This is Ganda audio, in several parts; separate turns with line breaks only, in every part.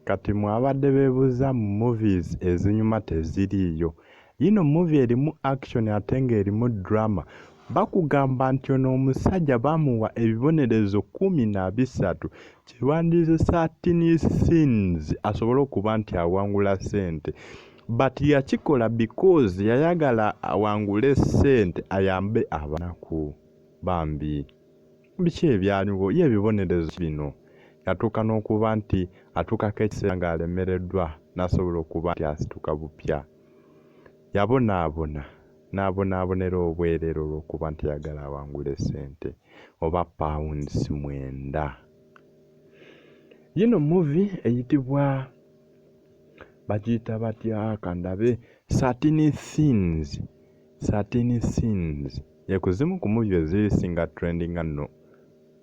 Kati mwabadde bebuza mu movies ezinyuma teziriiyo. Yino movie erimu action ate nga erimu drama. Bakugamba nti ono omusajja bamuwa ebibonerezo kumi na bisatu kyebandize certain scenes asobole okuba nti awangula sente. But yakikola because yayagala awangule sente ayambe abanaku bambi. Biki ebyaliwo? Ye ebibonerezo ki bino? Yatuuka n'okuba nti atuukako ekiseera ng'alemereddwa n'asobola okuba nti asituka bupya. Yabonaabona, n'abonaabonera obwereere olw'okuba nti ayagala awangule ssente oba pounds mwenda. Yino muvi eyitibwa bagiyita batya kandabe, Thirteen Things 13 scenes ye ku zimu ku movie eziri singa trendinga nno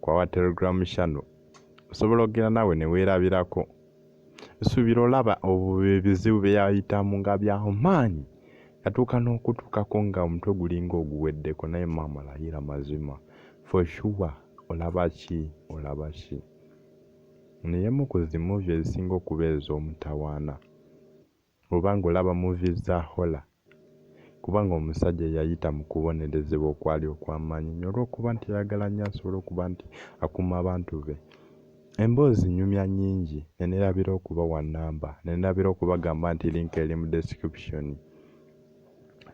ku our telegram channel osobola okugenda nawe newerabirako nsuubira olaba ebizibu byeyayitamu nga byamaanyi yatuuka n'okutuukako nga omutwe gulinga oguweddeko naye maama layira mazima for sure olaba ki olaba ki neyemu ku zimuvi ezisinga okuba ez'omutawaana Oba nga olaba movies za horror kubanga omusajja yayita mu kubonerezebwa okwali okw'amaanyi nnyo olw'okuba nti yayagala nnyo asobole okuba nti akuuma abantu be. Emboozi nnyumya nnyingi ne neerabira okubawa nnamba ne neerabira okubagamba nti link eri mu description.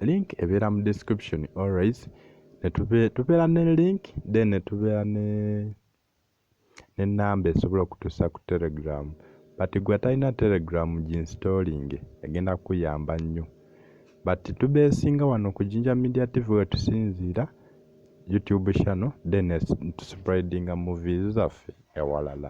Link ebeera mu description always ne tubeera ne link then ne tubeera ne ne number esobola okutusa ku telegram but gwe atalina telegram ginstollinge egenda kukuyamba nnyo but tubesinga wano ku jinja media tv wetusinziira youtube channel then tuspreadinga movies zaffe ewalala.